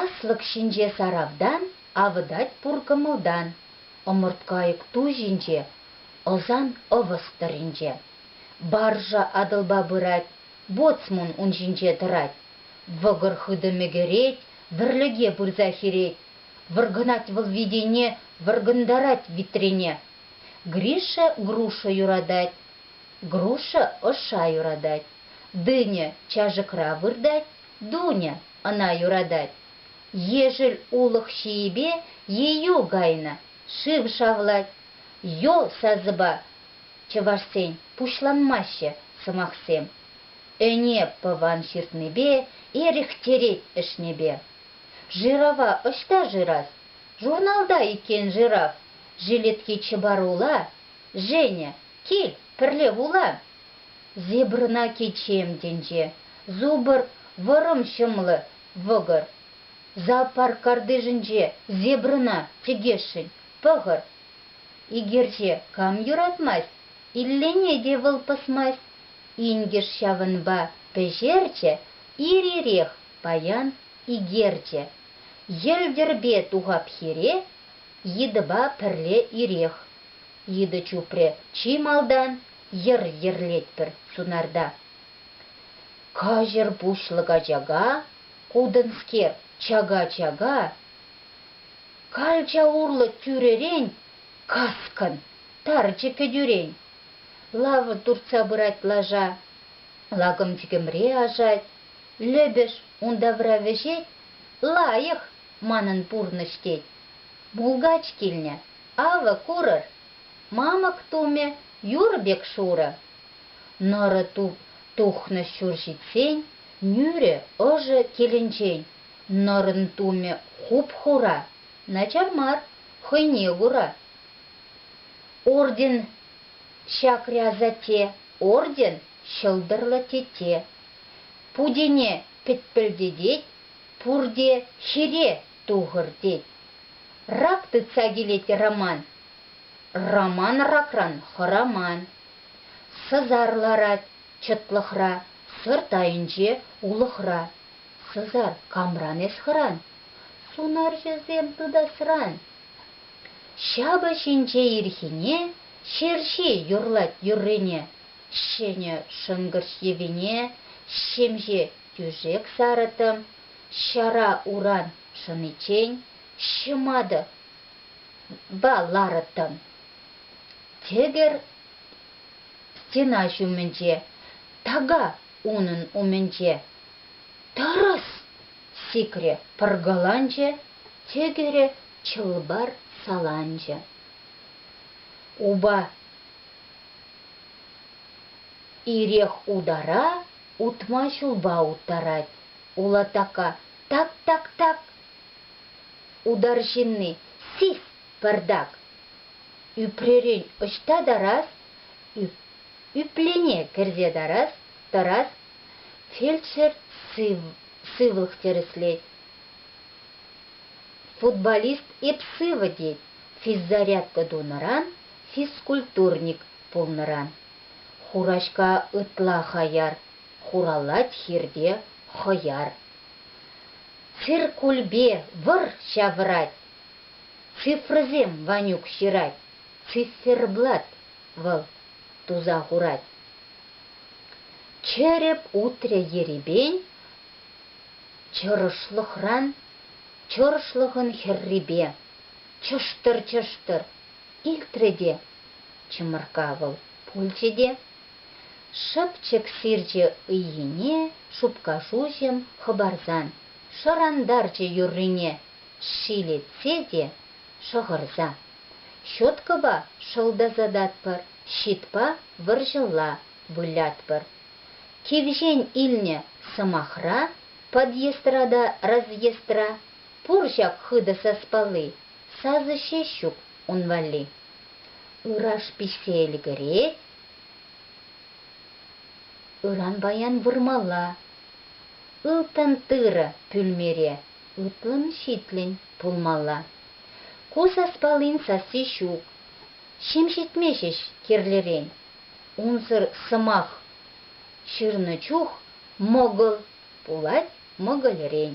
Аслӑк ҫинче саравтан авӑтать пур кӑмӑлтан, Ӑмӑрткайӑк ту ҫинче ӑсан ӑвӑс тӑрринче. Баржа Атӑлпа пырать, боцмун ун ҫинче тӑрать. Вӑкӑр хытӑ мӗкӗрет, вӗрлӗке пырса хирет. Вӑркӑнать вӑл витене, вӑркӑнтарать витрене. Гриша Груша юратать, Груша ӑша юратать, Дыня чашӑкра выртать, Дуня ӑна юратать. Ешӗл улӑх ҫийӗпе Ейӳ кайнӑ шыв шавлать. Ё сасӑпа чӑвашсен пуҫланмаҫҫӗ сӑмахсем. Ӗне пӑван ҫыртнипе, Эрехтерет ӗҫнипе. Жирава ӑҫта шырас? Журналта иккен жирав. Жилетки чӑпарула, Женя, кил, пӗрле вулан! Зебрӑна кичем тӗнче, Зубр, вӑрӑм ҫӑмлӑ, вӑкӑр. Зоопарк картишӗнче зебрӑна чӗкесшӗн, пӑхӑр. Икерче кам юратмасть, Иллине те вӑл пӑсмасть. Инкӗш ҫавӑнпа пӗҫерчӗ, Ир-ирех паян икерчӗ. Йӗлтӗрпе тухап хире, Йытӑпа пӗрле ирех. Йытӑ чупрӗ, чи малтан йӗр йӗрлетпӗр сунарта. Каҫӑр пуҫлӑк ачака, кутӑнскер, чака-чака. Калча урлӑ тӳререн каскӑн, тарчӗ кӗтӳрен. Лава туртса пырать лаша. Лакӑм-чӗкӗмре ашать. Лӗпӗш ун тавра вӗҫет. Лайӑх манӑн пурнӑҫ тет. Булгач килнӗ. Авӑ, курӑр, мамӑк тумӗ юр пек шурӑ. Нӑрӑ туп тухнӑ ҫур ҫитсен, нӳрӗ ӑшӑ килӗнчен, нӑрӑн тумӗ хуп-хура, начар мар, хӑйне кура. Орден Чакря Зате, орден Ҫӑлтӑрлӑ Тете. Путене пӗтпӗлтетет пурте ҫире Тухӑр тет. Рак тытса килет Роман. Роман ракран хӑраман. Сӑсар ларать чӑтлӑхра, сӑрт айӗнче улӑхра. Сӑсар камран эс хӑран? Сунарҫӑсем тытасран. Ҫапӑҫ инҫе ирхине, ҫерҫи юрлать юррине. Ҫӗнӗ шӑнкӑрч йӑвине, ҫемҫе тӳшек сарӑтӑм. Ҫара уран шӑниччен ҫӑматӑ ларӑттӑм. Тӗкӗр стена ҫумӗнче, така унӑн умӗнче. Тӑрӑс! сикрӗ, пӑркаланчӗ тӗкӗрӗ чӑл-пар саланчӗ. Упа ирех утара Утма ҫулпа уттарать улатака так-так-так! Утар ҫынни, сис, пӗртак! Ӳпререн ӑҫта тарас, ӳплене кӗрсе тарас, тӑрас, фельдшер сывлӑх тӗрӗслет. Футболист эп сывӑ тет физзарядка тунӑран, физкультурник пулнӑран. Хураҫка ытла хаяр, хуралать хирте хӑяр. Циркульпе вӑр ҫавӑрать, цифрӑсем Ванюк ҫырать, циферблат вӑл туса хурать. Чӗрӗп утрӗ ерипен чӑрӑшлӑхран, чӑрӑшлӑхӑн хӗррипе. Чӑштӑр-чӑштӑр илтрӗ те Чӑмӑркка вӑл пулчӗ те шӑпчӑк сирчӗ ыйхине шупка шуҫӑм хӑпарсан шӑрантарчӗ юррине ҫилетсе те шӑхӑрса. Щеткӑпа шӑлтасататпӑр, щитпа вӑрҫӑлла вылятпӑр. Кивҫен илнӗ сӑмахра подъездра та разъездра пур ҫак хытӑ саспалли, сасӑ ҫеҫ ҫук. ун валли. Ыраш пиҫсе ӗлкӗрет. Ыран паян вырмалла. Ылтӑн тырӑ пӳлмере ытлӑн-ҫитлӗн пулмалла. Ку саспаллин сасси ҫук. Ҫим ҫитме ҫеҫ кирлӗрен. Унсӑр сӑмах ҫырнӑ чух мӑкӑл пулать мӑкӑльрен.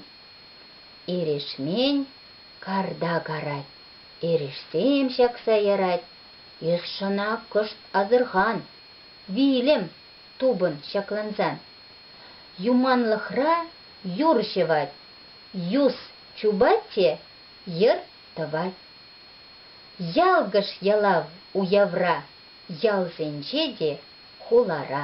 Эрешмен карта карать. Эрешсем ҫакса ярать, Ешшӑна кӑшт асӑрхан, вилӗм, тупӑн ҫаклансан. Юманлӑхра юр ҫӑвать, юс чупать те йӗр тӑвать. Ялкӑш ялав уявра, ялсенче те, хулара.